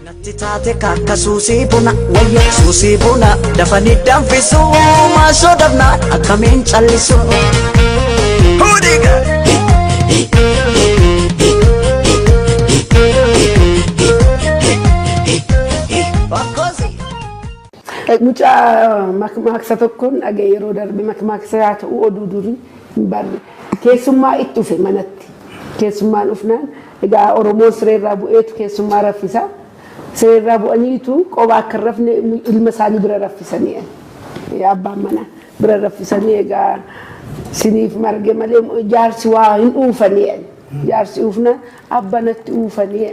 Natti taate kakka suusii buna wayya suusii buna dafanii danfisu maasoo dafna akkamiin callisu. Hudiga. Bakkosi. Mucaa makmaaksa tokkoon dhagee yeroo darbe makmaaksa yaa ta'u oduu durii hin barre. Keessummaa itti dhufe manatti. Keessummaan dhufnaan Egaa Oromoon sireerraa bu'eetu keessummaa raffisa. Sireerraa bu'aniitu qobaa akka hin rafne ilma isaanii bira raffisanii abbaan manaa bira raffisanii egaa siniif marge malee jaarsi waa hin uufanii jaarsi uufna abba natti uufanii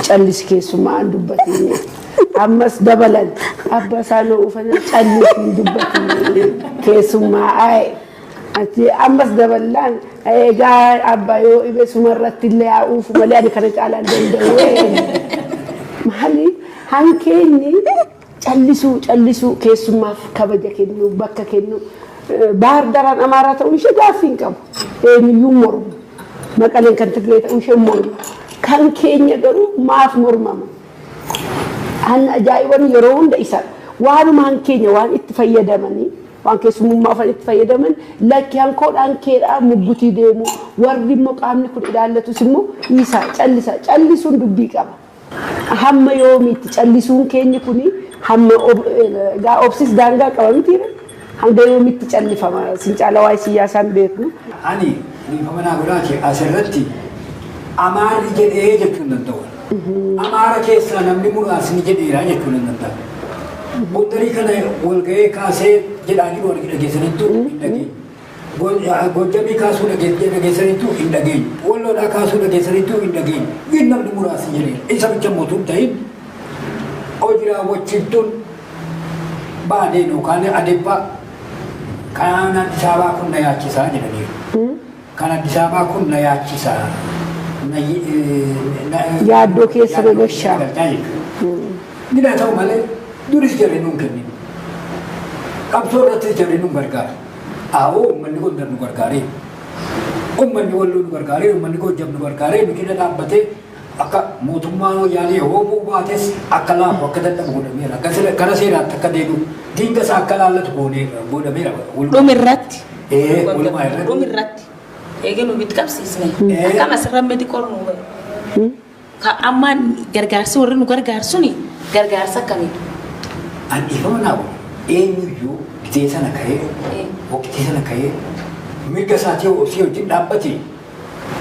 callisi keessummaa an dubbatiin ammas dabalan abba isaa na uufanii callisi hin dubbatiin keessummaa aa'e. Ati ammas daballaan egaa abba yoo ibe suma irratti illee haa uufu malee ani kana caalaan danda'u. Maali hankeenyi callisuu callisuu keessummaaf kabaja kennu bakka kennu baar daraan amaaraa ta'uu ishee gaaffii hin qabu. Eenyuyyuu mormu. Maqaleen kan Tigree ta'uu ishee mormu. Kan keenya garuu maaf mormama? Kan ajaa'iban yeroo hunda isa waanumaan keenya waan itti fayyadamanii waan keessumummaa ufan itti fayyadaman lakki hankoodhaan keedhaa muggutii deemu warri immoo qaamni kun ilaallatus immoo dhiisaa callisa callisuun dubbii qaba. Hamma yoomiitti callisuun keenyi kun hamma gaa obsis daangaa qaba mitiire. Hanga yoomitti callifama? Isin caala waa'ee siyyaasaa hin beeknu. Ani dhiifama naa godhaati asirratti Amaarri jedhee jechuu hin danda'u. Amaara keessaa namni muraasni jedheera jechuu nan danda'a. Gondarii kana walga'ee kaasee jedhaa jiru argi dhageessaniittu hin dhageenye. Goojjamii kaasuu dhageessaniittuu hin dhageenye. Walloodhaa kaasuu dhageessaniittuu hin dhageenye. Wiin namni muraasni jedhee isa bicha mootuu hin ta'in hojii raawwachiiftuun baadeen yookaan adeebbaa kan Addis Ababaa kun na yaachisaa jedhaniiru. Kan Addis Ababaa kun na yaachisaa. Yaaddoo keessa na gashaa. Gina ta'u malee duris jarri nuun kennin. Qabsoo irrattis jarri nuun gargaara. Aawoo uummanni Gondar nu gargaaree, uummanni Walloo nu gargaaree, uummanni Goojjam nu gargaaree nu cina dhaabbatee akka mootummaan Wayyaanee hoomuu baates akka laafu akka dadhabu godhameera. Akka sira- Gara seeraatti akka deebi'u diinga isaa akka laallatu gooneera godhameera. Walumaa- Dhumi irratti. Ee, walumaa irratti. Dhumi irratti. Eegee nu bitti qabsiisne. Ee. Akkam asirra miti qornu. Ka amma gargaarsi warri nu gargaaru suni gargaarsa akkamiidha? An dhiifama naa godhe eenyuyyuu gizee sana ka'ee Ee. waqtii sana ka'ee mirga isaatii yoo obsee wajjin dhaabbate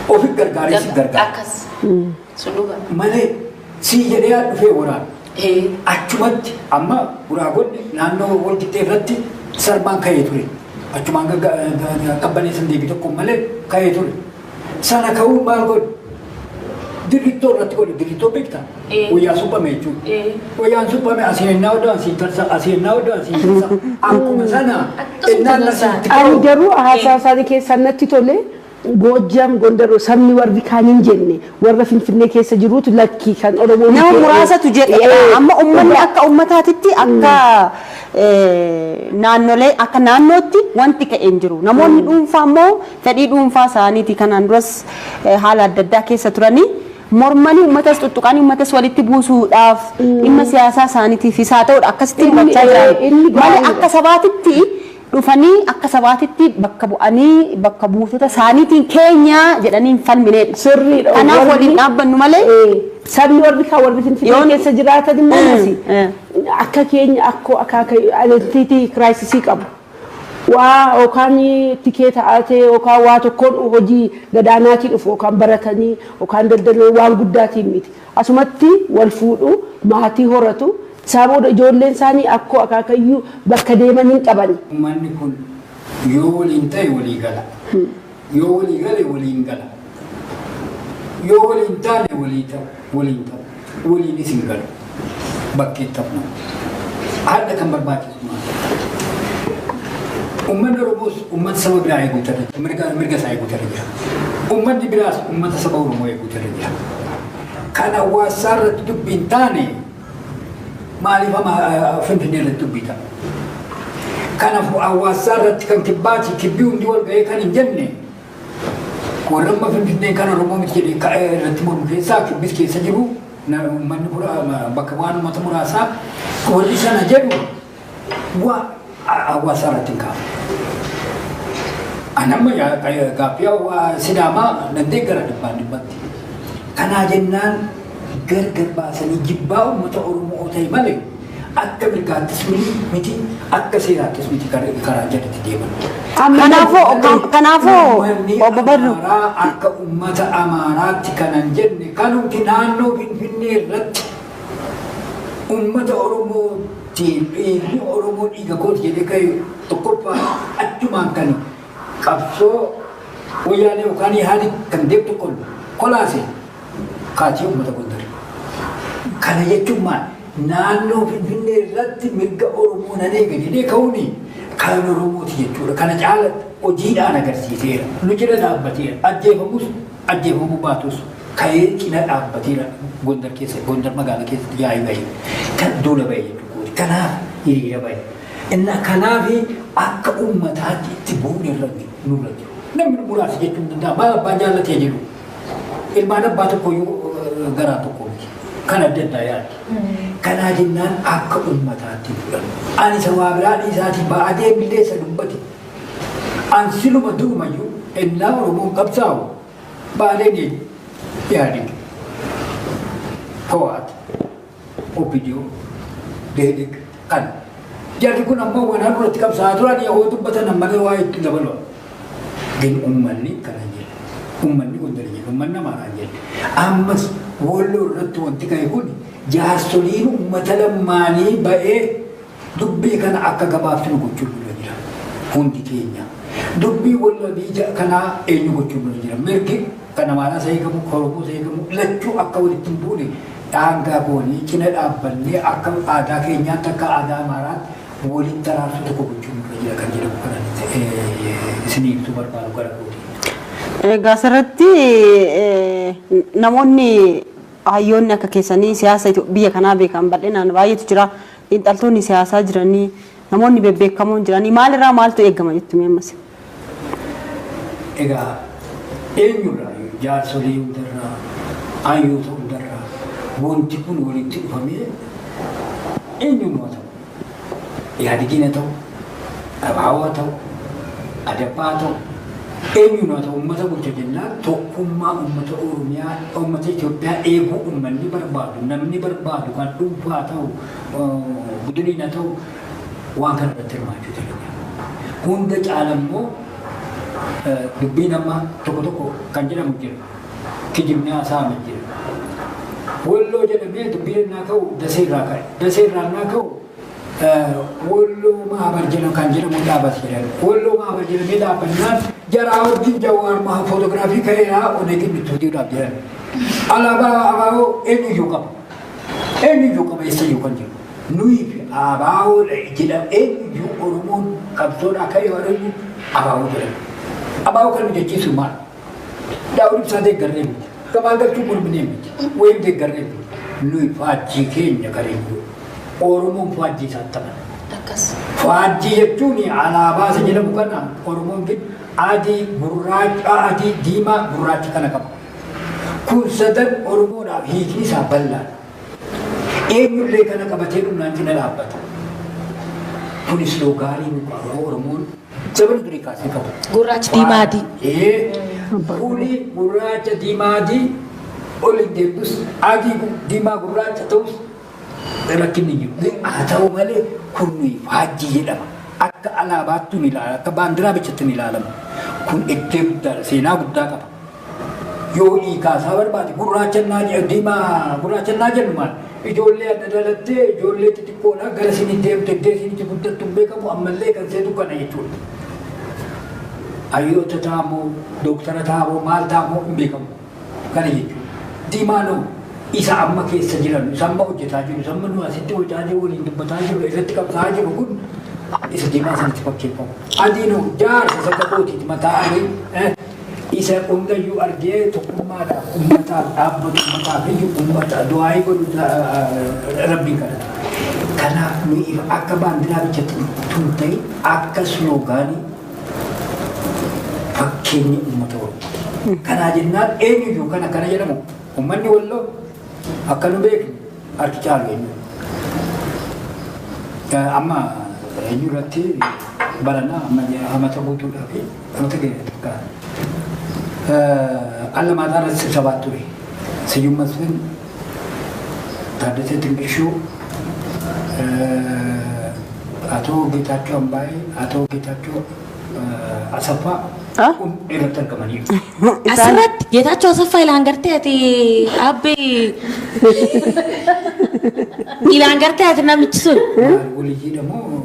ofi gargaaree si gargaara. Akkas. Sun dhugaa. Malee sii jedhee haa dhufee waraana. Ee. Achumatti amma guraagonni naannoo walqixxee irratti sarbaan ka'ee ture. Achumaan qabbaneessan deebii tokko malee ka'ee ture. Sana ka'uun maal godhu? Dirrittoo irratti godhu dirrittoo beekta. Eh. Wayyaa suphame jechuudha. Eh. Wayyaan suphame asii ennaa odoo asii tarsa asii ennaa odoo asii tarsa akkuma sana Akkasuma ennaan sana. asitti Ani ka'u. garuu haasaa isaanii keessaa natti tole Goojjam Gondaroo sabni warri kaan hin jenne warra Finfinnee keessa jiruutu lakkii kan Oromoo Nama miti. muraasatu jedha. Eh, Amma uummanni akka uummataatitti akka eh, naannolee akka naannootti wanti ka'e hin jiru. Namoonni dhuunfaa immoo fedhii dhuunfaa isaaniitii kanaan duras haala adda addaa keessa turanii mormanii uummatas tuttuqanii uummatas walitti buusuudhaaf dhimma siyaasaa isaaniitiifis haa ta'udha akkasitti Inni- hubachaa eh, jiran inni malee gaariidha. akka sabaatitti dhufanii akka sabaatitti bakka bu'anii bakka buutota isaaniitiin keenya jedhanii hin falmineedha. Sirriidha. Kanaaf Warri- waliin dhaabbannu malee Eh, sabni warri kaa warri finfinnee Yoon- keessa jiraatan immoo Eh, masi eh. akka keenya akkoo akaaka identity crisis qabu. waa yookaan tikee ta'aatee yookaan waa tokkoon hojii gadaanaatii dhufu yookaan baratanii yookaan daldaloo waan guddaatiin miti. Asumatti wal fuudhu, maatii horatu, isaa booda ijoolleen isaanii akkoo akaakayyuu bakka deeman hin qabani. Uummanni kun yoo waliin ta'e walii gala. Yoo walii gale waliin gala. Yoo waliin taane walii ta'u, waliin ta'u, waliinis hin galu. Bakki itti hafu. Haadha kan barbaachisu maal? Uummanni Oromoos uummata saba biraa eeguu ta'e mirga mirga isaa eeguu ta'e jira. Uummanni biraas uummata saba Oromoo eeguu ta'e jira. Kan hawaasaa irratti dubbiin taane Maaliif amma Finfinnee irratti dubbiita? Kanaaf hawaasaa irratti kan kibbaati kibbii hundi wal ga'ee kan hin jenne warra amma Finfinnee kan Oromoo miti jedhee ka'ee irratti mormu keessaa kibbis keessa jiru uummanni bakka waan uummata muraasaa warri sana jedhu Waa hawaasaa irratti hin kaafne. Anamma gaaffii sidaamaa nan deeggara dhibbaan dhibbatti. Kanaa jennaan gargar baasanii jibbaa uummata Oromoo ta'e malee akka mirgaattis miti akka seeraattis miti karaa jalatti deeman. Kanaafuu kanaafuu obbo Badru. Akka uummata Amaaraatti kanan jenne kanumti naannoo Finfinnee irratti Uummata Oromoo ti, dhiigni Oromoo dhiiga koo ti jedhee ka'e tokkoffaa achumaan kan qabsoo Wayyaanee yookaan Ihaadiq kan deemu tokko kolaase kaachee uummata Gondari. Kana jechuun maal? Naannoo Finfinnee irratti mirga Oromoo nan eega jedhee ka'uuni kan Oromoo ti jechuudha. Kana caalatti hojiidhaan agarsiiseera. Nu jira dhaabbateera. Ajjeefamus ajjeefamuu baatus ka'ee cina dhaabbateera Gondar keessa Gondar magaala keessatti yaa'ii bahe kan duula bahe jechuudha. Kanaaf hiriira bahe. Inna kanaaf akka uummataatti itti bu'uun irra nurra jiru. Namni muraasa jechuun danda'a baay'ee abbaa jaallatee jiru. Ilmaan abbaa tokko yoo garaa tokko miti. Kan adda addaa yaaddi. Kanaa jennaan akka uummataatti fudhanna. Ani isa waa biraa dhiisaatii baadee milleessa dubbate. An siluma durumayyuu ennaa Oromoon qabsaa'u Baaleen eenyu? Ihaadig, Hoo'aat, OPDO, Dehedeg kana. Jarri kun ammoo wanaa duratti qabsaa'aa turan yoo dubbatan ammallee waa itti dabaloo. Gin ummanni kana hin jedhe. Ummanni gondar hin jedhe. Ummanni amaaraa hin jedhe. Ammas walloo irratti wanti ka'e kun jaarsoliin ummata lammaanii ba'ee Dubbii kana akka gabaabsinu gochuun nurra jira. Hundi keenya. Dubbii wallabii ja kanaa eenyu gochuun nurra jira. Mirgi kan Amaaraas haa eegamu, kan Oromoos haa eegamu, lachuu akka walitti hin buune daangaa goonee cina dhaabbannee akka aadaa keenyaatti, akka aadaa Amaaraatti walitti araarsuu tokko gochuun nurra jira kan jedhamu kanatti isinii ibsuu barbaadu gara kootii. Egaa asirratti namoonni hayyoonni akka keessanii siyaasa biyya kanaa beekan bal'inaan baay'eetu jira. Xiinxaltoonni siyaasaa jiranii, namoonni bebbeekamoon jiranii maalirraa maaltu eegama jettu mee ammas? Egaa eenyurraayyuu jaarsolii hundarraa, hayyoota hundarraa wanti kun walitti dhufamee eenyuun haa ta'u, Ihaadegiin haa ta'u, Abaawoo haa ta'u, Adappaa haa ta'u, eenyuun haa ta'u uummata bulcha jennaan tokkummaa uummata Oromiyaa, uummata Itoophiyaa eeguu uummanni barbaadu, namni barbaadu kan dhuunfaa haa ta'u, budiniin haa ta'u waan kana irratti hirmaachuu danda'u. Hunda caala immoo dubbiin amma tokko tokko kan jedhamu jira. Kijibni haasa'ame jira. Walloo jedhamee dubbiin innaa ka'u dasee irraa ka'e. Dasee irraa innaa ka'u Wolloo Maabar jedhamu kan jedhamu dhaabate jedhan. Wolloo Maabar jedhamee dhaabbannaan jaraa wajjin Jawaar Mahaa footogiraafii ka'eeraa oneetiin itti hojiidhaaf jedhan. Alaabaa abaaboo eenyuyyuu qaba. Eenyuyyuu qaba eessayyuu kan jedhu. Nuyi fi abaaboo jedhamu eenyuyyuu Oromoon qabsoodhaa ka'ee warreen abaaboo jedhamu. Abaaboo kan nu jechiisu maal? Daawud ibsaa deeggarree miti. Gabaa galchuu morminee miti. Wayim deeggarree miti. Nuyi faajjii keenya gareeyyuu. Oromoon faajjii isaan taphata. Akkas. Faajjii jechuun alaabaa isa jedhamu kana Oromoon gid adii, gurraacha, adii, diimaa, gurraacha kana qaba. Kun sadan Oromoodhaaf hiikni isaa bal'aadha. Eenyullee kana qabatee dhumnaan cina dhaabbata. Kunis yoo gaarii nu qabu Oromoon Jabal durii kaasee qabu. Gurraachi diimaa adii. Ee, fuuli gurraacha diimaa adii ol hin deemtus adii gu- diimaa gurraacha ta'us rakkinni hin jiru. Haa ta'u malee kun nuyi faajjii jedhama. Akka alaabaatti ni ilaalama, akka baandiraa bichatti ni ilaalama. Kun iddoo guddaadha, seenaa guddaa qaba. Yoo hiikaa isaa barbaade gurraacha naa jedhu diimaa gurraacha naa jedhu maal? Ijoollee adda dhalattee ijoollee xixiqqoodha gara isin deemte iddoo isin itti guddattu hin beekamu ammallee kan seetu kana jechuudha. Hayyoota ta'a moo dooktara ta'a moo maal ta'a moo hin beekamu kana jechuudha. Diimaanoo isa amma keessa jiran isa amma hojjetaa jiru isa amma nu asitti hojjetaa jiru waliin dubbataa jiru irratti qabsaa'aa jiru kun isa diimaa sanatti fakkeeffamu. Adiinoo jaarsa isa kakootiiti mataa adii. eh, Isa hundayyuu argee tokkummaadhaaf ummataaf dhaabbatu ummataaf iyyu ummata du'aayii godhu rabbii kadhata. Kanaaf nuyi akka baandiraa bichatti tun ta'e akka sloogaanii fakkeenya uummata Oromoo. Kanaa jennaan eenyuyyuu kana kana jedhamu uummanni walloo akka nu beeknu harki caalu eenyu. Amma eenyu irratti baranaa amma amata guutuudhaaf Goota keenya takka alla maataa irratti sirsabaat ture. Siyyum Masfin, Taaddasee Tingishuu, Atoo Geetaachoo Ambaayee, Atoo Geetaachoo Asaffaa Ah? kun irratti argamaniiru. Asirratti Geetaachoo Asaffaa ilaan gartee ati abbee ilaan gartee ati namichi sun. Maal waliyyidha moo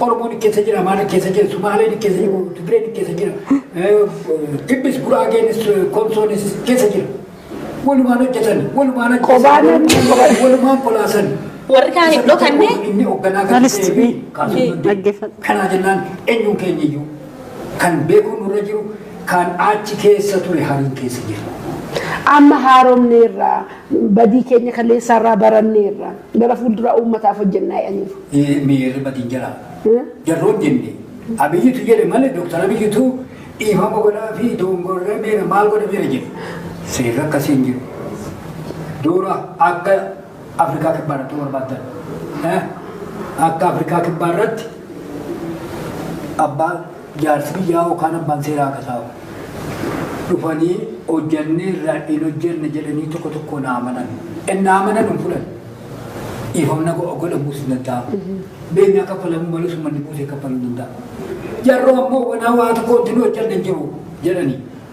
Oromoo ni keessa jira, Amaara keessa jira, Sumaalee ni keessa jira, Tigree ni keessa jira, Kibbis, Guraageenis, Komsoonis keessa jira. Walumaan hojjetan, walumaan Kophaan hojjetan, hojjetan. walumaan kolaasan. Warri kaan hin dhokanne. Inni hoogganaa kan Maalist ta'ee fi mee? kaasuu Ee, danda'u. dhaggeeffadhu. Kanaa jennaan eenyuun keenya iyyuu kan beekuun nurra jiru kan achi keessa ture hariin keessa jira. Amma haaromneerra Badii keenya kaleessaa irraa baranneerra. Gara fuulduraa uummataaf hojjennaa jedhaniiru. Miirri badii hin jira. Jarri hojjenne. Abiyyitu jedhe malee Dooktar Abiyyitu dhiifama godhaa fi doongorree meera maal godhe meera jedhe. Seerri akkasii hin jiru. Dura akka Afrikaa kibbaa irratti barbaaddan. Akka Afrikaa kibbaa irratti abbaan Jaarsi biyyaa yookaan abbaan seeraa akka taa'u dhufanii hojjanneerra hin hojjanne jedhanii tokko tokko naa amanan. Innaa amanan hin fudhan. Dhiifamna godhamuus hin danda'amu. Beenyaa kaffalamuu malee summanni buusee kaffaluu danda'a. Jarroo ammoo wanaa waa tokko wanti nu hojjanne hin jiru jedhanii.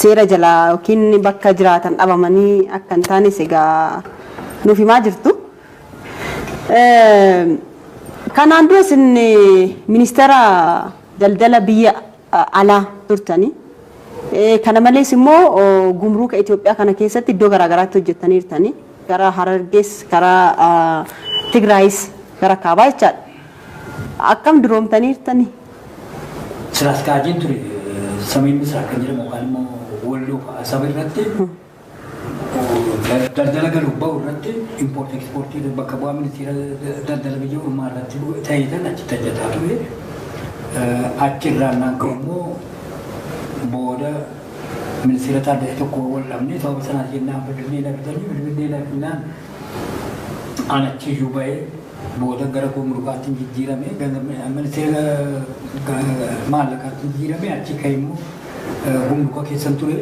seera jalaa yookiin bakka jiraatan dhabamanii akka hin taanes egaa nuuf himaa jirtu. Kanaan dura isin ministeera daldala biyya alaa turtanii. Kana malees immoo gumruuka Itoophiyaa kana keessatti iddoo garaagaraatti hojjettaniirtanii. Gara Harargees, gara Tigraayis, gara Kaabaa jechaadha. Akkam duroomtaniirtanii? Sira askaajeen ture samii misraa kan jedhamu yookaan immoo walloo fa'a saba irratti daldala galuuf ba'u irratti impoortii ekspoortii bakka bu'aa ministeera daldala biyya ormaa irratti ta'ee tan achitti hojjetaa ture. Achirraan naan ka'u immoo booda ministeera taaddalee tokko wal dhabnee sababa sanaa jennaan bilbilee lakkisanii bilbilee lakkinaan aan achiyyuu ba'ee Booda gara Gumurukaattin jijjiirame, gara Ministeera Maallaqaattin jijjiirame, achii ka'ee immoo Gumuruka keessan ture.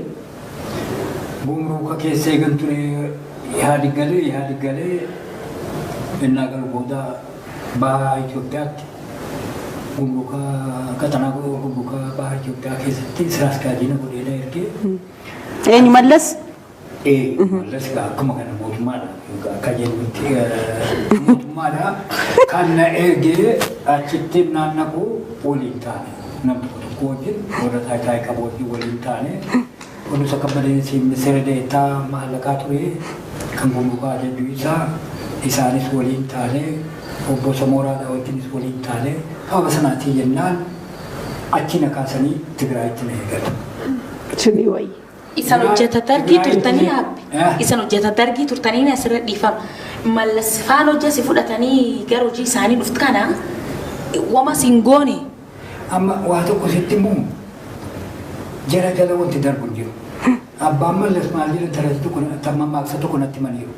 Gumuruka keessa eegan ture Ihaadig galee, Ihaadig galee innaa galu booda baha Itoophiyaatti Gumuruka qaxanaa Gumuruka baha Itoophiyaa keessatti sira askaajiina godhee na ergee. Eenyu mallas? Ee, mallas egaa akkuma kana mootummaadha. Egaa akka jennutti eh, mootummaadha. Kan na ergee achitti naannaqu waliin taane. Namni tokko wajjin warra taayitaa qabu wajjin waliin taane. Kunis akka badeensi ministeera deetaa maallaqaa ture kan gumrukaa jechuu isaa isaanis waliin taane obbo Samooraadha wajjinis waliin taane haala sanaatiin jennaan achi na kaasanii Tigraayitti na eegale. Suni wayya. Isan hojjeta dargii turtanii haabbi. Isan hojjeta dargii turtanii asirra dhiifama. Mallas faan hojja si fudhatanii gara hojii isaanii dhuft kana wama sin goone. Amma waa tokko sitti immoo jara jala wanti darbu hin jiru. Abbaan mallas maal jedhan taratti tokko tamma maaksa tokko natti maniiru.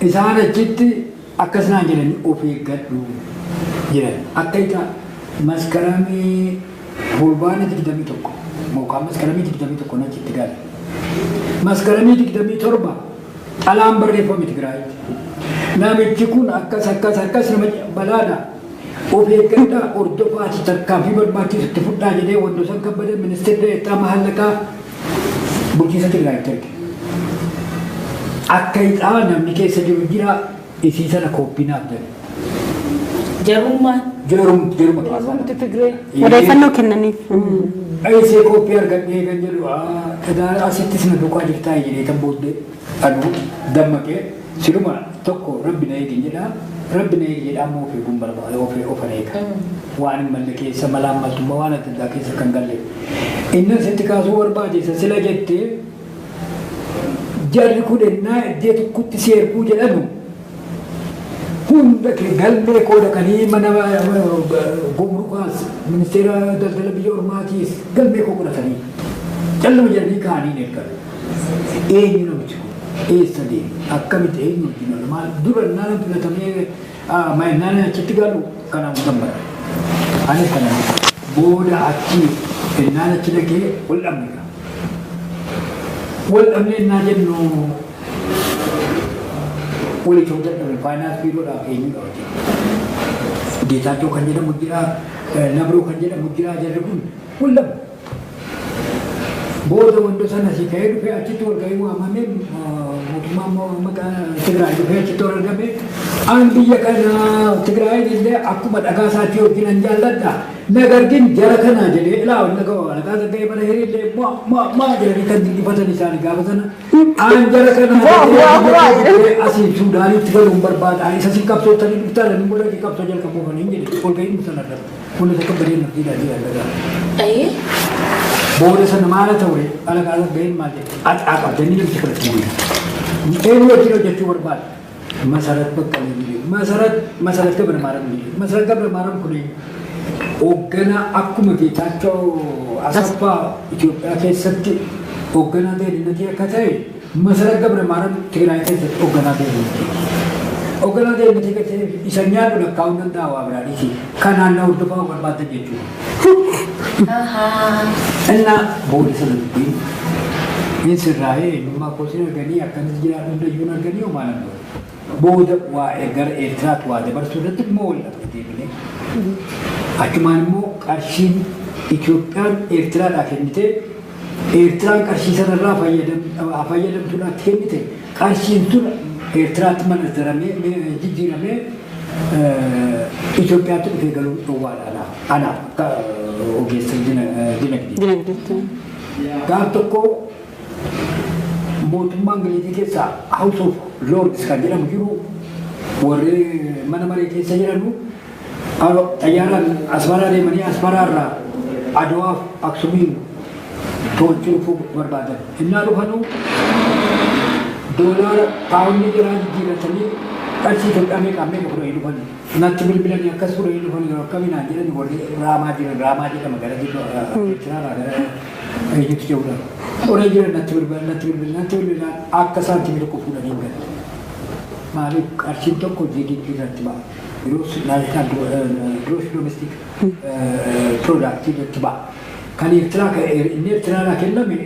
Isaan achitti akkas naan jedhani of eeggadhu jedhan. Akka ita maskaramii fulbaana 21 yookaan maskaramii 21 na achitti gale. Maskaramii 27 xalaan barreeffame Tigraayitti. Namichi kun akkas akkas akkas nama balaadha. Of eeggadhaa, hordofaa fi tarkaanfii barbaachisu itti fudhaa jedhee Wandoosan Kabbada Ministir De'eettaa Mahaallaqaa Bulchiinsa Tigraayitti erge. Akka hidhaa namni keessa jiru jira isii sana kooppii naaf jedhe. Jarummaan. Jarum, jaruma kaasaa. Jarumti Tigree. Odeeffannoo kennaniif. Eessee kooppii argadhee kan jedhu egaa asittis na duukaa jirtaa jedhee tan booddee anu dammaqee Siluma tokko rabbi na eegin jedha rabbi na eegi jedha amma of eeguun barbaada of ofan eega waan hin malle keessa malaan maltummaa waan adda addaa keessa kan galle innan sitti kaasuu barbaachisa sila jette jarri kun ennaa iddee tokkotti si erguu jedhanu hunda kee galmee koo dhaqanii mana gumrukaas ministeera daldala biyya ormaatiis galmee koo godhatanii calluma jedhanii kaanii hin ergan Eenyu namichi kun? Eessa deeme? Akkamitti eenyu wajjin oole? Maal dura naan filatamee naan achitti galu kanaan kan bara. Ani kana booda achi ennaan achi dhaqee wal dhabne. Wal dhabne ennaa jennu wal itoo dadhabe faayinaans biiroodhaa eenyu dha hojii. Geetaachoo kan jedhamu jira, Nabroo kan jedhamu jira jarri kun wal dhabne. Booda wanta sana si ta'ee dhufee achitti wal ga'ii waamame mootummaa immoo amma Tigraay dhufee achitti wal argame. An biyya kana Tigraay illee akkuma dhagaa isaatti yookiin an jaalladha. Nagargin jara kana jedhee ilaa wanta ga'u dhagaa isa ga'ee mana hiriirlee maa maa maa jedhanii kan dinqifatan isaanii gaafa sana. An jara kana jedhee asii Suudaanitti galuun barbaada. Isa si qabsoo tanii dhuftaa lammii godhanii qabsoo jalqabuufanii jedhe wal ga'ii sana irratti. Fuula takka badee maddii daadii alagaa. Ayee. Booda sana maala ta'ure alagaa alaggeen maal jedhe axaa qabda ni namti kadhatti bu'e. Eenyu wajjin hojjechuu barbaada. Masarat bakka ni biyyu. Masarat masarat gabra maaram biyyu. Masarat gabra maaram kun hoogganaa akkuma Geetaachoo Asaffaa Itoophiyaa keessatti hoogganaa deeninnatii akka ta'e Masarat Gabramaaram Tigraay keessatti hogganaa deebiitti. Hogganaa deebiitti galchee isa nyaadhu lakkaa'uu danda'a waa biraa dhiisi. Kanaan na hordofaa of barbaaddan jechuudha. Innaa booda sana dubbii hin sirraa'ee eenyummaa kootiin arganii akkamitti jiraatu hundayyuu arganii homaa nan godhe. Booda waa'ee gara Eertiraatti waa dabarsuu irratti immoo wal dhabde deebinee. Achumaan immoo qarshiin Itoophiyaan Eertiraadhaa kennitee Eertiraan qarshii sanarraa fayyadamtuudhaatti kennite qarshiin tun Eertiraatti manazzaramee jijjiiramee Itoophiyaatti dhufee galuun dhowwaadha anaaf akka ogeessa dinagdeetti. Gaaf tokko mootummaa Ingilizii keessaa House of Lords kan jedhamu jiru warri mana maree keessa jedhamu Alo xayyaaraan Asmaraa deemanii Asmaraa irraa Adwaaf Aksumiin to'achuu dhufuu barbaadan. Innaa dhufanuu doolaara paawundii jiraa jijjiirratanii qarshii kan qabee qabnee fudhanii dhufan. Natti bilbilanii akkas fudhanii dhufan yoo akkamii naan jedhan warri raamaa jiran raamaa jedhama gara jechaaraa gara eenyutti jedhudha. Qoree jiran natti bilbilan natti bilbilan natti bilbilan akka saantimii tokko fudhanii hin galle. Maaliif qarshiin tokko jigiggi irratti ba'a. Gross national gro- eh, gross domestic eh, product irratti ba'a. Kan Eertiraa kan- eh, inni Eertiraa irraa kenname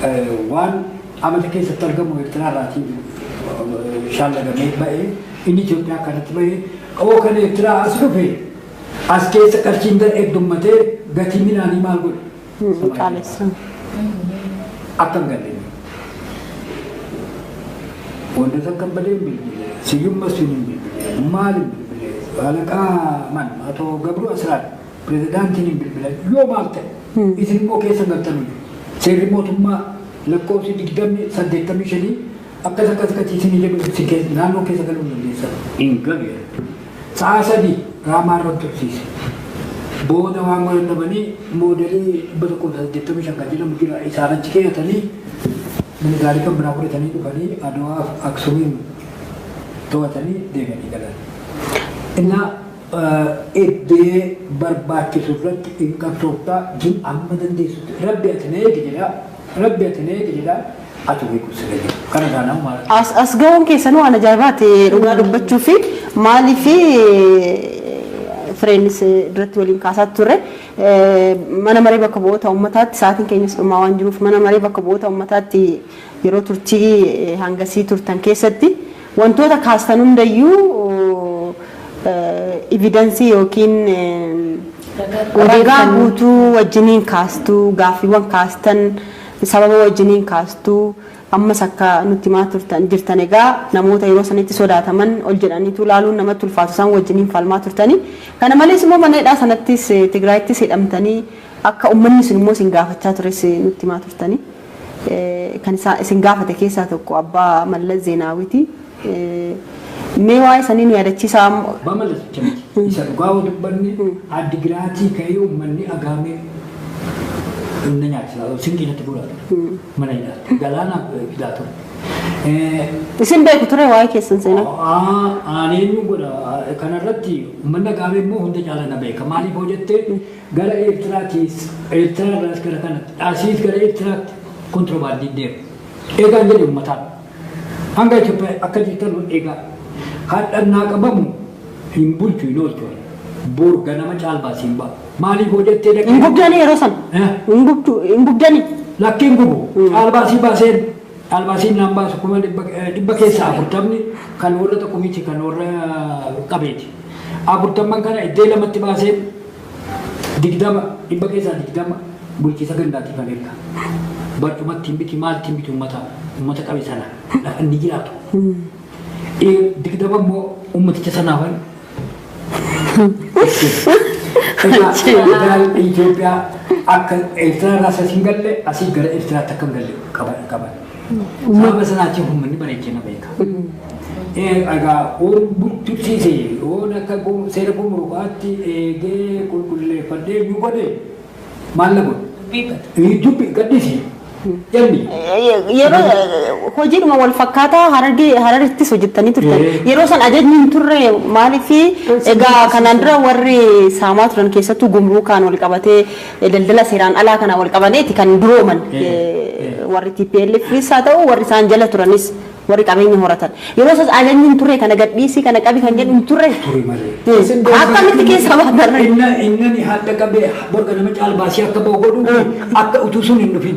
eh, waan amata keessatti argamu Eertiraa irraatii eh, shaallagamee ba'e inni Itoophiyaa kanatti ba'e oo kan Eertiraa as dhufe as keessa qarshiin gad heddummatee gatii midhaanii maal godhe? Hin qaalessan. Akka hin galle ni. Wandas akka hin badee hin bilbilee. Siyyum Masfiin hin bilbilee. Maal hin bilbilee. Baalaqaa man Atoo Gabruu Asiraat pirezidaantiin hin bilbilan yoo maal ta'e isin immoo keessa galtanuu seerri mootummaa lakkoofsi digdamni saddeettamii shanii Akka takka takka ciisinii jedhu itti keessa naannoo keessa galuu dandeessa. Hin galu jedhe. Sa'a sadi raamaa irra tursiise. Booda waan godhan dhabanii moodelii 185 kan jedhamu jira isaan achi keeyatanii miligaarii kan biraa fudhatanii dhufanii Aduwaaf Aksumiin to'atanii deebi'anii galan. Innaa eddee barbaachisu irratti hin qabsooftaa jin amma dandeessutti rabbi ati na eegi jedha. Rabbi ati na eegi jedhaa ati beeku siree jiru. Kana irraa nama maal? As, as ga'uun keessanuu waan ajaa'ibaati dhugaa dubbachuu fi maalii fi fireenis duratti waliin kaasaa turre Eh, mana maree bakka bu'oota uummataatti sa'aatiin keenyas dhumaa waan jiruuf mana maree bakka bu'oota uummataatti yeroo turtii eh, hangasii turtan keessatti Wantoota kaastan hundayyuu evidence yookiin ragaa guutuu wajjiniin kaastu, gaaffiiwwan kaastan sababa wajjiniin kaastu, ammas akka nutti himaa turtan jirtan egaa namoota yeroo sanitti sodaataman ol jedhaniitu ilaaluun namatti ulfaatu isaan wajjiniin falmaa turtani. Kana malees immoo mana hidhaa sanattis Tigraayittis hidhamtanii akka ummanni sun immoo isin gaafachaa tures nutti himaa turtani. Kan isaa isin gaafate keessaa tokko abbaa Mallas Zeenaawiti. Mee waa'ee sanii nu yaadachiisaa ammoo. Abbaa Mallas bicha miti. Isa dhugaa yoo dubbanne Addi Giraatii ka'ee ummanni Agaamee na nyaachisaa ture. Sinqii natti guuraa ture. Mana hidhaatti. Galaanaa fidaa ture. Isin beeku ture waa'ee keessan seenaa? Aaneenyu godha. Kanarratti ummanni Agaamee immoo hunda caala na beeka. Maaliif hoo jettee Gara Eertiraatiis, Eertiraa irraas gara kanatti, asiis gara Eertiraatti kontirobaandiin deema. Eegaan jedhe ummataan. Hanga Itoophiyaa akka jirtanu eegaa. Hadha naa qabamu hin bulchu hin oolchu. Boor ganama caalbaas hin ba'a. Maaliif hoo jettee dhaqee? Hin gubdani yeroo san. Eh? Hin gubdu hin gubdani. Lakkiin gubu. Caalbaasii baaseen caalbaasiin naan baasu kuma dhibba eh, dhibba keessaa afurtamni kan warra tokko miti kan warra qabeeti. Afurtamman kana iddee lamatti baaseen 20, dhibba keessaa 20 bulchiisa gandaatiif an erga. Barcuma ittiin biti maal ittiin biti ummata ummata qabe sana lafa inni jiraatu. Eh, 20 immoo ummaticha sanaa wal Egaa daa'imni Itoophiyaa akka Eertiraa irraa asii hin galle asii gara Eertiraatti akka hin galle qaban qaban. Sababa sanaatiif uummanni bareechee na beeka. Egaa buttuttiise yoon akka seera gumurukaatti eegee qulqulleeffadhee nu godhe maal na godhu? Dubbi gadhiisi. Jenni. Yeroo hojiidhuma wal fakkaataa harargee hararittis hojjettanii turtan. Yeroo san ajajni hin turre maaliif egaa kanaan dura warri saamaa turan keessattuu gumruukaan wal qabatee Daldala seeraan alaa kanaan wal qabateeti kan durooman warri TPLFis haa ta'u warri isaan jala turanis warri qabeenya horatan. Yeroo isaas ajajni hin turre kana gadhiisii kana qabi kan jedhu hin turre. Ture malee. Isin beektu- Akkamitti keessa baatan? Inna- Innani hadda qabee borga nama caalbaasii akka ba'u godhuufi akka utuu sun hin dhufin.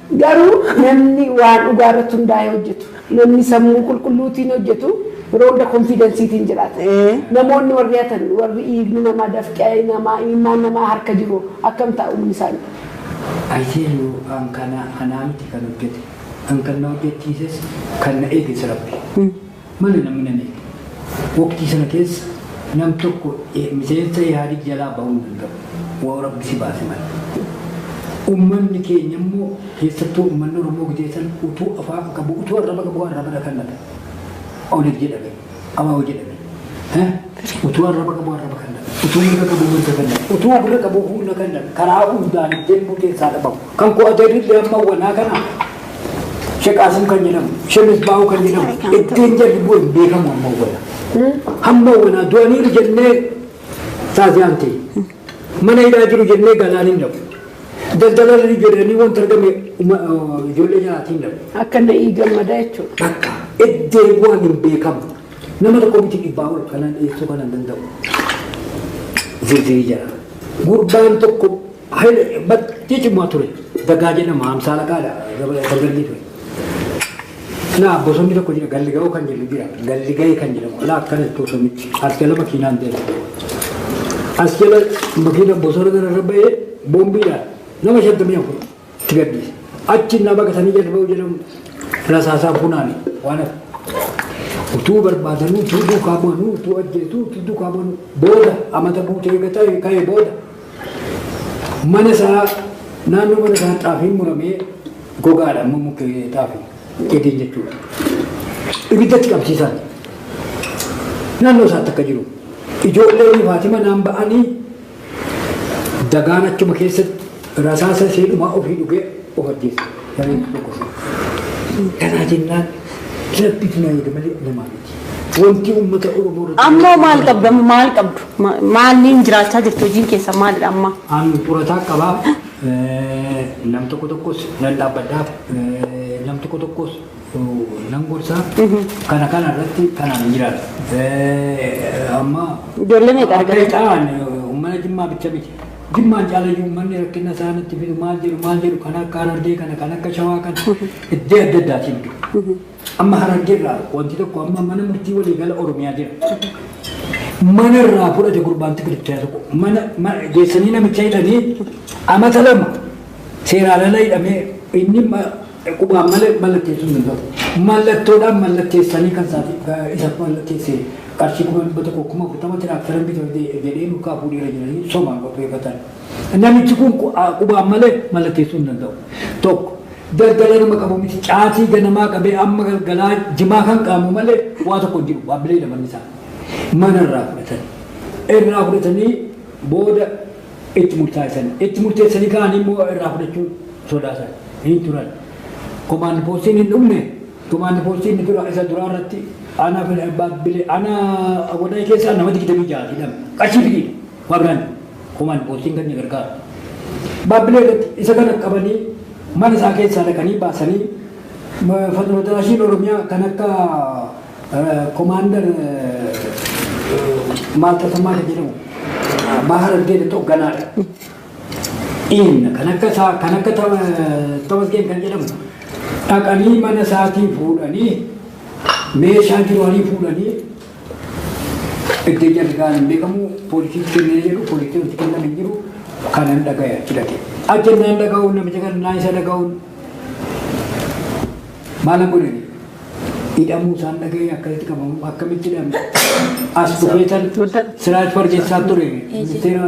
Garuu namni waan dhugaa irratti hundaa'ee hojjetu, namni sammuu qulqulluutiin hojjetu roonda konfiidansiitiin jiraata. Ee. Namoonni warri hatan, warri dhiigni namaa, dafqi namaa, imimmaan namaa harka jiru akkam ta'a umriin isaanii? I tell you an kana anaa miti kan hojjete, an kan na hojjechiises kan na eeges Rabbi. Malee namni na miidhe. Waqtii sana keessa nam tokko miseensa Ihaadig jalaa bahuu hin danda'u. Wbo Rabbi si baase malee. Ummanni keenya immoo keessattuu ummanni Oromoo gizee san utuu afaan qabu utuu arraba qabu arraba dhakannata. Oneg jedhame. Abawo jedhame. Eh? Utuu arraba qabu arraba kannata. Utuu mirga qabu mirga kannata. Utuu gurra qabu humna kannata. Karaa hundaan ittiin murteessaa dhabamu. Kan koo ajajillee amma wanaa kana Sheek Qaasim kan jedhamu, Sheek Misbaahuu kan jedhamu, ittiin jarri bu'e hin beekamu amma wanaa. Hamma wanaa du'aniiru jennee taasisaan ta'e. Mana hidhaa jiru jennee galaan hin dhabu. Daldala irra ijoolleeni wanta argame uma- oo, ijoollee nyaatii hin dhabu. Akka na ii gammada jechuudha. Takka iddee bu'an hin beekamu. Nama tokko miti dhibbaa ol kanan dhiyeessuu kanan danda'u. Zirzirii jala. Gurbaan tokko Haile baay'ee cimaa ture. Dagaa jedhama hamsaa laqaadha. Dargaggee ture. Naa bosonni tokko jira galli ga'oo kan jedhu jira. Galli ga'ee kan jedhamu alaa akkana itti osoo miti. As jala makiinaan ta'e. As jala makiina bosona kana irra ba'ee boombiidhaan nama shantamii afur itti gadhiise. Achi na baqatanii jala ba'uu jedhamu rasaasaan funaane waan hafe. Utuu barbaadanuu utuu duukaa bu'anuu utuu ajjeesuu utuu duukaa bu'anuu booda amata guutee eegataa ka'ee booda Mana isaa naannoo mana isaa xaafiin muramee gogaadha amma mukkee xaafi eegeen jechuudha. Ibiddatti qabsiisan naannoo isaatti akka jiru ijoolleen Faatima naan ba'anii dagaan achuma keessatti rasaasa ishee dhumaa ofii dhugee of ajjeessa. Gareen tokkosa. Kanaa jennaan rabbitu na eega malee namaa miti. Wanti uummata Oromoo irratti- Ammoo maal qabda maal qabdu? Maaliin jiraachaa jirtu? Hojiin keessan maalidha amma? An xurataa qaba. Nam tokko tokkos nan dhaabbadhaaf. Nam tokko tokkos nan gorsa. Kana kana irratti kanaan hin jiraatu. Amma Ijoollee meeqa argata? akka ta'an uummata Jimmaa bicha miti. Jimmaan caalayyuu uummanni rakkina isaa natti fidu maal jedhu maal jedhu kan akka Harargee kana kan akka Shawaa kana iddoo adda addaatiin jiru. Amma Harargee irraa wanti tokko amma mana murtii waliigala Oromiyaa jira. Mana irraa fudhate gurbaan tikirichaa tokko. Mana ma- geessanii namicha hidhanii amata lama seeraan ala hidhamee inni ma- qubaan malee mallatteessuu hin danda'u. Mallattoodhaan mallatteessanii kan isaaf isaaf mallatteessee qarshii kuma dhibba tokko kuma afurtama tiraaktara bita jedhee mukaa fuudheera jedhanii somaan qopheeffatan. Namichi kun qu- qubaan malee mallatteessuu hin danda'u. Tokko. Daldala nama qabu miti. Caatii ganamaa qabee amma galgalaa jimaa kan qaamu malee waa tokko hin jiru. Baabbilee laman isaa mana irraa fudhatan. Irraa fudhatanii booda itti murtaa'essan. Itti murteessanii ka'anii immoo irraa fudhachuu sodaatan. Hin turan. Komaandi poostiin hin dhumne. Komaandi poostiin inni dura isa duraa irratti ana baabbilee ana wadaa keessaa nama digdamii ja'a hidhame. Qarshii fidiidha. Waa biraan. Kuman boottiin gad ni gargaara. Baabbilee irratti isa kana qabanii mana isaa keessaa dhaqanii baasanii Fatnoodaraashiin Oromiyaa kan akka Komaandar maal tasammaa kan jedhamu Baahar Argeetti hogganaadha. Dhiinna kan akka isaa kan akka Tamasgeen kan jedhamu dhaqanii mana isaatii fuudhanii meeshaa jiru hanii fuudhanii Iddoo ijaan egaan hin beekamu poolisiin kennee jedhu poolisiin itti kennan hin jiru kanan dhagaya jedhate. Ajjannaan dhaga'uun namicha kan naa isa dhaga'uun maalan godhani hidhamuu isaan dhaga'ee akkasitti qabamu akkamitti hidhamu as dhufeetan siraaj fargeessaa ture ministeera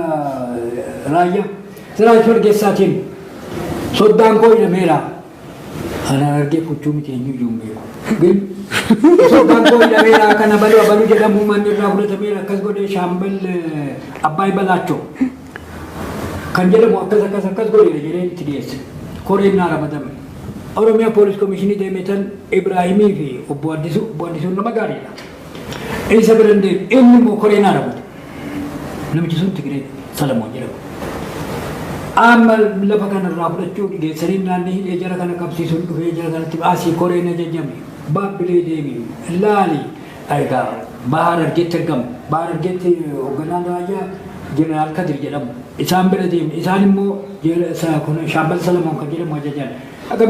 raayyaa siraaj fargeessaatiin soddaan koo hidhameera. Anaan argee fuchuu miti eenyu iyyuu hin beeku. Gil. Osoo gaangoo hidhameera kan abaluu abaluu jedhamu manni irraa fudhatameera akkas godhee shaambal eh, Abbaay Balaachoo kan jedhamu akkas akkas akkas godheera jedhee itti dhiyeesse. Koreen naa ramadame. Oromiyaa poolis komishinii deemeetan Ibraahimii fi obbo Addisuu obbo Addisuun nama gaariidha. Isa bira hin deemu. Inni immoo koree naa raawwate. Namichi sun Tigiree Salamoon jedhama. Amma lafa kanarraa fudhachuu dhigeessanii naannii hidhee jara kana qabsiisuun dhufee jara kanatti asii koree na jajjame. Baabbilee deemi. Laali. Egaa Bahaar Argeetti argamu. Bahaar Argeetti hoogganaan raayyaa Jeneraal Kadir jedhamu. Isaan bira deemne. Isaan immoo Shaambal Salamoon kan jedhamu ajajan. Akka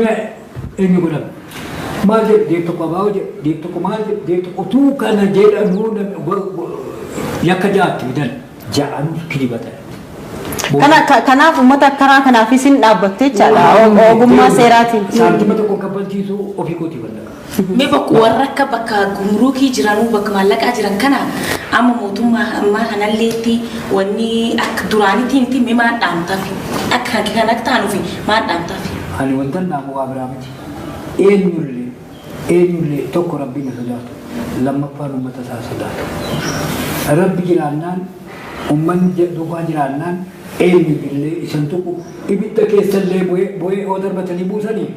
Eenyu godhame? Maal jedhu deeb tokko abaa'oo jedhu deeb tokko maal jedhu deeb tokko utuu kana jedhanuu yakka ja'atti fidan ja'anuu kilibatan. Kana- ka- Kanaaf uummata akkanaa kanaaf isin dhaabbattee jechaadha ogummaa seeraatiin. Saantima tokko kaffalchiisuu ofii kootii ballaqa. Mee bakka warra akka bakka gumuruukii jiranuu bakka maallaqaa jiran kana amma mootummaa ammaa kanalleetti wanni akka duraanitti hin timme maal dhaamtafi akka kan kan akka taanuufi Maal dhaamtaafi? Ani wantan dhaamu waa biraa miti. Eenyullee, eenyullee, tokko Rabbiin haa sodaatu, lammaffaan ummata isaa haa sodaatu. Rabbi jiraannaan, ummanni ja duukaa jiraannaan eenyuyyullee isa hin tuqu. Ibidda keessallee bu'ee, bu'ee yoo darbatanii buusanii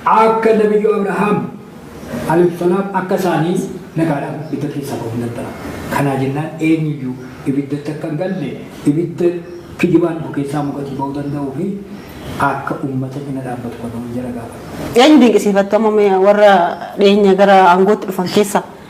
akka Nabiyyuu Abrahaam, Alif Xolaab akka isaanii nagaadhaan ibidda keessaa bahu nan bara. Kanaa jennaan eenyu iyyuu ibiddatti akka hin galle, ibidda kijibaan dhufu keessaa mukatii bahuu danda'uu fi akka uummata cina dhaabbatu kan hoo'u jara gaafadha. Eenyu dinqisiifattu amma mee warra dhiyeenya gara aangootti dhufan keessaa?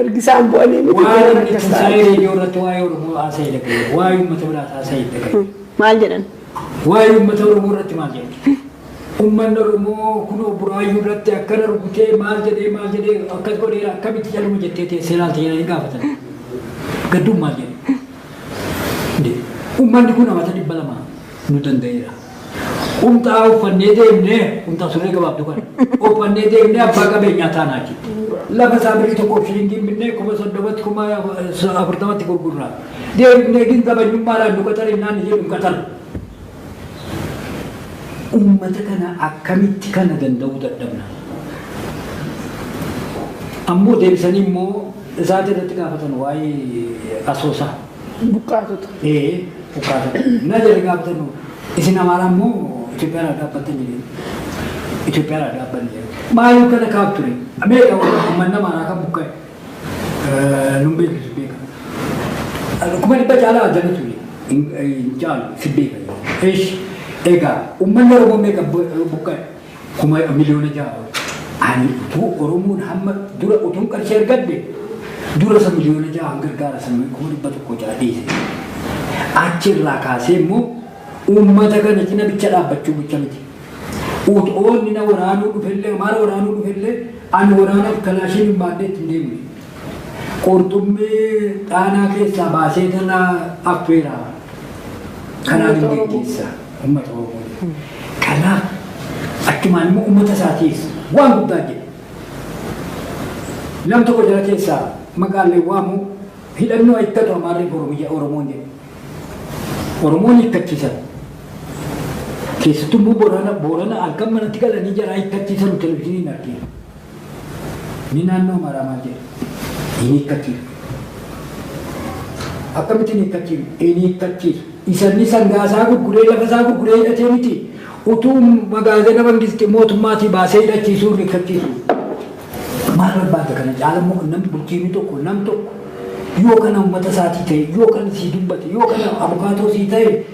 Ergi isaan bu'anii miti Waa'ee galan inni akkas Tinsaa'ee ta'an. Reediyoo irratti waa'ee Oromoo haasa'e dhaga'e. Waa'ee uummata biraa haasa'e dhaga'e. Maal jedhan? Waa'ee uummata Oromoo irratti maal jedhe? Uummanni Oromoo kun buraayyuu irratti akkana rukutee maal jedhee maal jedhee akkas godheera akkamitti caluma jettee teessee ilaalta jedhanii gaafatan. Gadduun maal jedhe? Uummanni kun amata dhibba lama nu danda'eera. Qumxaa uffannee deemnee qumxaa surree gabaabdu kana uffannee deemnee abbaa qabeenyaa taanaa jechuudha. Lafa isaa birrii tokkoof shilingiin binnee kuma soddomatti kuma afurtamatti gurgurraa. Deemnee gin zabanyummaadhaan nu qaxarinnaan jedhu qaxaru. Uummata kana akkamitti kana danda'uu dadhabna. Ammoo deebisanii immoo isaati irratti gaafatan waa'ee asoosaa. Buqqaatota. Ee buqqaatota. Na jedhe gaafatan hoo isin amaaraa immoo Itoophiyaan adda dhaabbattan jedhee. Itoophiyaan adda dhaabbanne jedhee. Maaliif kana kaaf ture? Meeqa uummanni amaaraa kan buqqa'e? Nun beeku si beeka. Kuma dhibba caalaa adda na ture. Hin caalu si beeka. Eesh egaa uummanni Oromoo meeqa buqqa'e? kuma miliyoona ja'a ol. Ani utuu Oromoon hamma dura utuun qarshii argadhe dura isa miliyoona ja'aan gargaara sammuu kuma dhibba tokko ja'a dhiise. Achi irraa kaasee immoo uummata kana cina bicha dhaabbachuu bicha miti. Utoonni na waraanuu dhufellee maal waraanuu dhufellee ani waraanaaf kalaashiin hin baadhee ittiin deemne. Qurxummii dhaanaa keessaa baasee tana affeera. Kanaan hin geggeessa. Ummata Oromoo. Kanaaf achumaan immoo ummata isaatiis waan guddaa jedhe. Nam tokko jara keessaa maqaan hin waamu hidhannoo hiikkatu Amaarri Oromiyya Oromoon jedhe. Oromoon hiikkachiisan. Keessattuu immoo Boorana Boorana halkan manatti galanii jaraa hiikkachiisanu televizyiiniin argina. Ni naannoo Amaaraa maal jedha? Hin hiikkachiisu. Akkamitti hin hiikkachiisu? Hin hiikkachiisu. Isa inni sangaa isaa gurguree lafa isaa gurguree hidhatee miti. Utuu magaazana mangisti mootummaatii baasee hidhachiisuu hin hiikkachiisu. Maal barbaadda kana caala immoo nam bulchiinni tokko nam tokko yoo kana uummata isaatii ta'e yoo kana sii dubbate yoo kana abukaatoo sii ta'e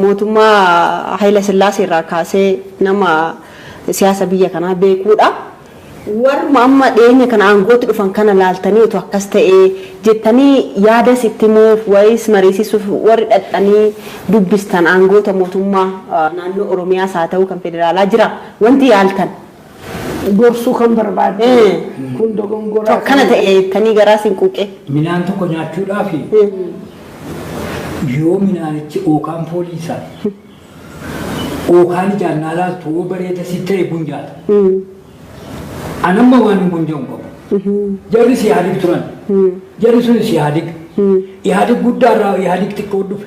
Mootummaa Hayila Sillaasee irraa kaasee nama siyaasa biyya kanaa beekuudha. Warruma amma dhiyeenya kana aangootti dhufan kana ilaaltanii utuu akkas ta'ee jettanii yaadas itti himuuf wayis mariisisuuf warri dhaqxanii dubbistan aangoota mootummaa naannoo Oromiyaas haa ta'uu kan federaalaa jira wanti yaaltan? gorsuu kan barbaadde Mm. kun dogongoraa Akkana ta'e jettanii garaa siin quuqee. Midhaan tokko nyaachuudhaaf yoo midhaanichi ookaan foolii isaa ookaan ijaan naa laaltu yoo bareeda si ta'e bun nyaata. Anamma waan hin bonja'u qabu. Jarri si yaadig turan. Jarri sun si yaadig. Yaadig guddaa irraa yaadig xiqqoo dhufe.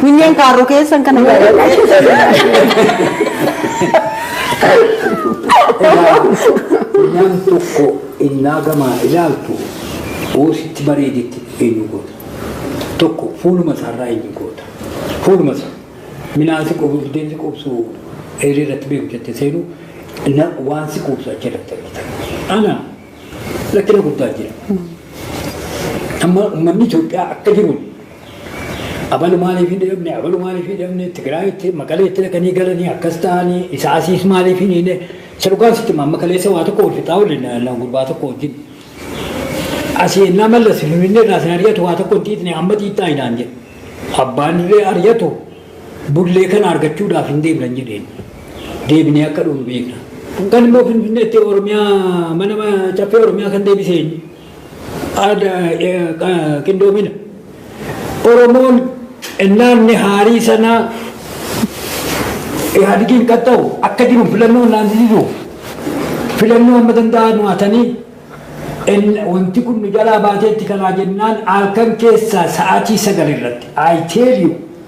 Kunyeen kaarroo keessan kana Funyaan tokko innaa gamaa ilaaltu hoo sitti bareedetti eenyu goota. Tokko fuuluma isaarraa eenyu goota. Fuuluma isaa. Minaan si qubu, biddeen si qubsu, eerii irratti beeku jette seenu na waan si qubsu achi irratti argita. Ana lakkina guddaa jira. Amma uummanni Itoophiyaa akka jiru Abalu maaliif hin dhabne, abalu maaliif hin dhabne, Tigraayitti, Maqaleetti dhaqanii galanii akkas ta'anii, isa asiis maaliif hin hiine, isa dhugaan sitti amma kaleessa waa tokko wal fixaa waliin naan gurbaa tokko wajjin. Asii ennaa mallas finfinnee irraa sin ari'atu waa tokko hin xiixne amma xiixxaa hinaan jedhe. Abbaan illee ari'atu bullee kana argachuudhaaf hin deemnan jedheen. Deebinee akka dhuun beekna. Kan immoo finfinneetti Oromiyaa mana caffee Oromiyaa kan deebisee qindoomina. Oromoon naanni haarii sanaa Ihaadegiin qaxxa'u akka jiru filannoo naasisisuuf filannoo amma danda'an waatanii wanti kun nu jalaa baateetti kanaa jennaan halkan keessaa sa'aatii sagal irratti I tell you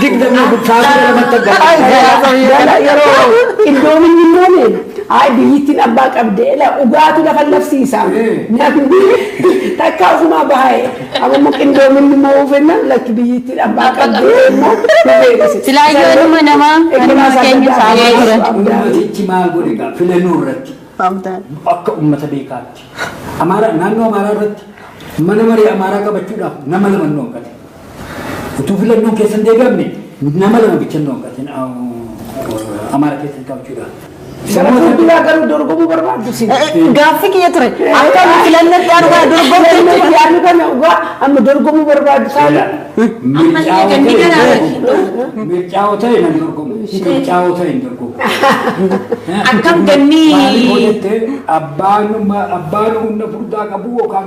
digdamii guddaa kudha lamatti Gala yeroo qindoominni immooni ay biyyittiin abbaa qabde la ugaatu lafa labsiisa namni takka ofumaa bahaye amma immoo qindoominni immoo uufenna lakki biyyittiin abbaa qabde immoo Silaa yoo ilma namaa kanuma keenya saamee turan. Ummatichi maal godhe gaa filannoo irratti akka ummata beekaatti. Amaaraa naannoo Amaaraa irratti mana marii Amaaraa qabachuudhaaf nama lama hin dhooggate. Utuu filannoon keessa hin deebi'amne nama lama bicha hin dhooqatin Amaara keessa hin qabachuudha. Samoota biyyaa garuu dorgomuu barbaaddu si. Gaaffii kiyya ture. Akka filannoo itti aanu kana dorgomte Filannoo itti aanu kana dhugaa amma dorgomuu barbaaddu saala. Mircaa'oo ta'e nan dorgomu. Mircaa'oo ta'e hin dorgomu. Akkam gannii. Maaliif hojjette abbaan humna furdaa qabu yookaan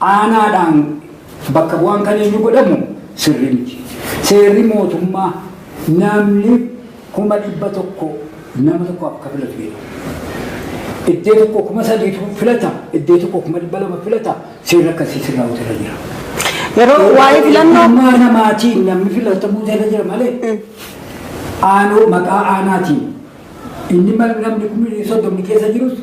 aanaadhaan bakka bu'aan kan eenyu godhamu sirrii miti. Seerri mootummaa namni kuma dhibba tokko nama tokko akka filatu jedha. Iddee tokko kuma sadiitu filata, iddee tokko kuma dhibba lama filata, seerri akkasii sirraa hojjeta jira. Yeroo waa'ee filannoo Eenyummaa namaatiin namni filatamuu jala jira malee aanoo maqaa aanaatiin Inni namni kumni soddomni keessa jirus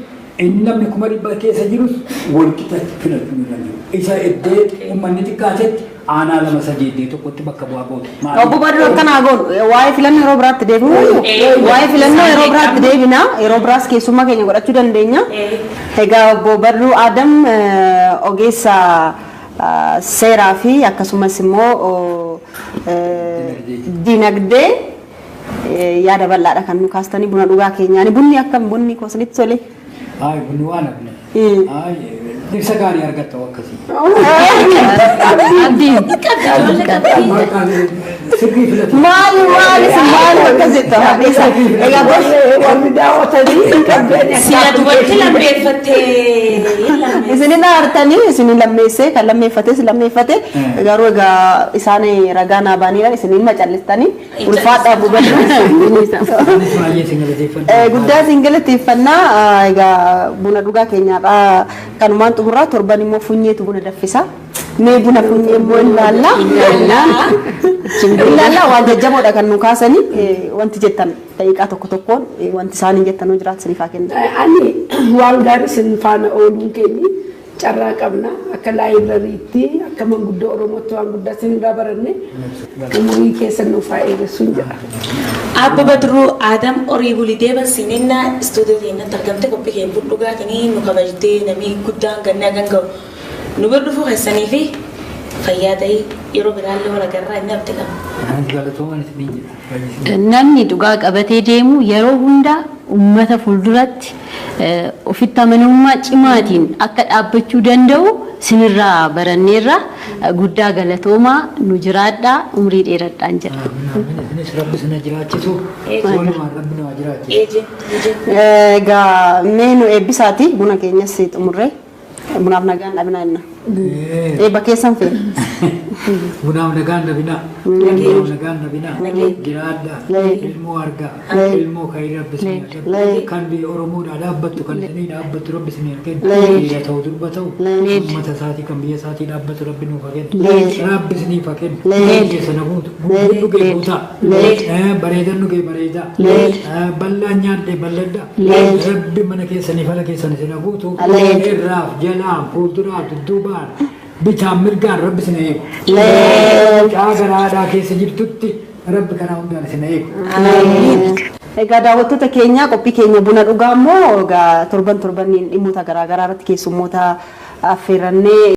inni namni kuma dhibba keessa jirus walqixatti filachuun irra jiru. Isa iddee uummanni xiqqaatetti aanaa lama sadii iddee tokkotti bakka bu'aa gootu. Obbo Badru akka naa goonu waa'ee filannoo yeroo biraatti deebi'u waa'ee filannoo yeroo biraatti deebina yeroo biraas keessummaa keenya godhachuu dandeenya. Egaa obbo Badru Adam ogeessa seeraa fi akkasumas immoo dinagdee. Yaada bal'aadha kan nu kaastanii buna dhugaa keenyaani. Bunni akkam bunni koo isinitti tole? Ay, bunni waan abne. Ay, ibsa gaarii argatta akkasii. Abdii. Sirbii filatu. Maali maali si maali akkas jettu haadheessa. Egaa gosa warri daawwatanii hin qabdeen Siyaatu walitti lammeeffattee hin lammeeffatte. Isinin aartanii isinin lammeessee kan lammeeffates lammeeffate garuu egaa isaan ragaa naa baaniidhaan isinin macallistanii Ulfaadhaa gubadhaa. Guddaa isin galateeffannaa. Egaa buna dhugaa keenyaadhaa kanumaan xumurraa torban immoo funyeetu buna daffisa. Mee buna funyee immoo ilaalla. Ilaalla waan jajjaboodha kan nu kaasani wanti jettan daqiiqaa tokko tokkoon wanti isaaniin jettanuu jiraatu isiniif haa kennu. Ani waan gaarii isin faana ooluun keenyi Carraa qabna. Akka laayibrariitti, akka manguddoo Oromootti waan guddaa isinirraa baranne umurii keessan nuuf haa dheeressuun jedha. Aabba Badruu Aadam Orii Bulii Deeban Siminnaa istuudiyoo keenyatti argamte qophii keenya budhugaatiin nu kabajtee namni guddaan gannaa kan ga'u nu bira dhufuu keessanii fi fayyaa ta'ii yeroo biraallee wal agarraa inni abdi qaba. Anaan galatoomaa isiniin jedha. Namni dhugaa qabatee deemu yeroo hundaa uummata fuulduratti Ofitti amanamummaa cimaatiin akka dhaabbachuu danda'u sinirraa baranneerra. Guddaa galatoomaa nu jiraadhaa umrii dheeradhaan jedha. Aamin aamin isinis rabbi sina jiraachisu wolumaan rabbi nu haa jiraachisu. Egaa mee nu eebbisaati buna keenyas xumurree. Bunaaf nagaan dhabinaa jenna. Eebba keessan feena. Bunaaf nagaan dhabinaa. Bunaaf nagaan dhabinaa. Jiraadhaa. Ilmoo argaa. Ilmoo kan rabbi isin haa kennu. Kan biyya Oromoodhaa dhaabbattu kan isinii dhaabbattu rabbi isin haa kennu. Dhiira ta'u durba ta'u. Uummata isaatii kan biyya isaatii dhaabbatu rabbi nuuf haa kennu. Rabbi isiniif haa kennu. Keessa na guutu. Guutuun dhugee guutaa. Bareedan dhugee bareedaa. Bal'aan nyaadhee bal'adhaa. Leenca. Rabbi mana keessanii fala keessan isin haa guutu. Leenca. Irraaf jalaan fuulduraaf dudduubaan bitaan mirgaan rabbi isin haa eegu. Leenca. Mucaa gara haadhaa keessa jirtutti rabbi karaa hundaan isin haa eegu. Egaa daawwattoota keenya qophii keenya buna dhugaa immoo egaa torban torbaniin dhimmoota garaagaraa irratti keessummoota affeerrannee